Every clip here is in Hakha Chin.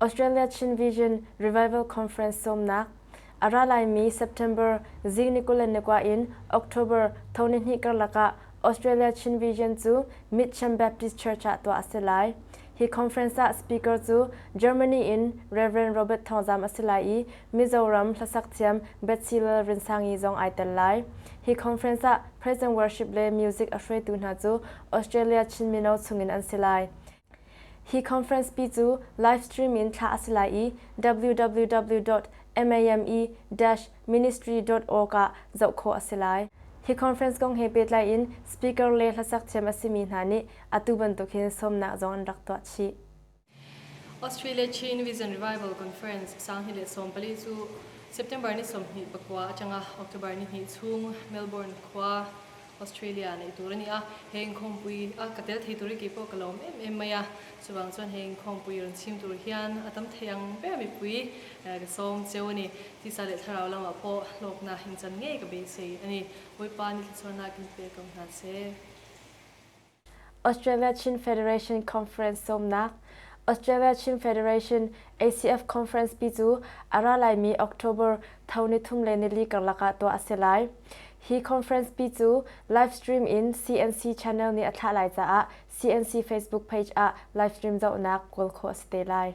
Australia Chin Vision Revival Conference sawmnak a ra laimi September zi ni kul le ni kwa in October thoni hni karlak ah Australia Chin Vision cu Mitcham Baptist Church ah tuah a si lai. Hi conference ah speaker cu Germany in Rev. Robert Thawng Zam a si lai i Mizoram hlasaktthiam Bethsy Lalrinsangi zong ai tel lai. Hi conference ah Present Worship le music a hruaitu hna cu Australia Chin mino chungin an si lai. Hi conference pi cu live stream in thlah a si lai i www.mame-ministry.org ah zoh khawh a si lai. Hi conference kong he pehtlai in speaker le hlasaktthiam a simi hna nih atu bantuk hin sawmnak zong an rak tuah chih. Australia Chin Vision Revival Conference sang hi le sawmpali cu September ni sawmhnih pakua atanga October ni hnih chung Melbourne khua Australia nei tur ani a heng khawmpui a ka tel thei tur ki po ka lawm em em mai a chuwang chuan heng khawmpui ron chim tur hian atam thei ang ber mi pui ka som cheu ani ti sa le tharau lama po lokna in chan ngei ka be sei ani boipa ni thlachona kin pe kam hna se Australia Chin Federation Conference sawmnak, Australia Chin Federation ACF Conference pi cu a ra laimi October tho ni thum le nili karlak ah tuah a si lai. Hi conference pi cu live stream in CNC channel nih a thlah lai caah CNC Facebook page ah live stream zohnak kawl khawh a si te lai.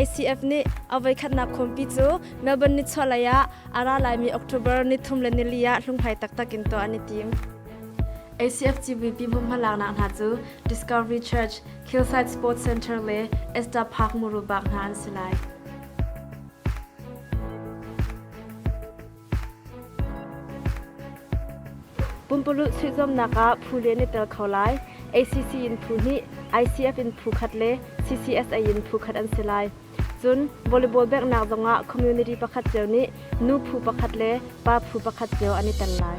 ACF nih a voikhatnak khawmpi cu Melbourne nichuahlei ah a ra laimi October ni thum le nili ah hlunghlai taktak in tuah an i tim. ACF CVP vumhmalaknak hna cu Discovery Church, Hillside Sports Centre le Esta Park muru bak hna an si lai. Pumpalulh suihzawmnak ah phu le na tel kho lai. ACC in phu hnih, ICF in phu khat le CCSA in phu khat an si lai. Cun volleyball beknak zongah community pakhat cio nih nu phu pakhat le pa phu pakhat cio an i tel lai.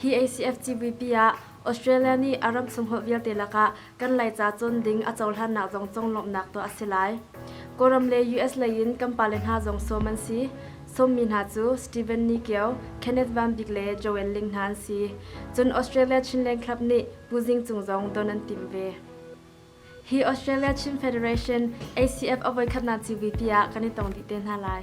Hi ACF CVP ah Australia nih a ram sunghlawh vialte lakah kan Laica cun ding a cohlannak zong cung lawmhnak tuah a si lai. Kawlram le US lei in kan pale hna zong sawm an si. Sawmmi hna cu Stephen Niceo, Kenneth Van Bik le Joanne Ling hna an si. Cun Australia Chinleng Club nih Pu Zing Cung zong don an timh ve. Hi Australia Chin Federation ACF a voikhatnak CVP ah kan i tong dih te hna lai.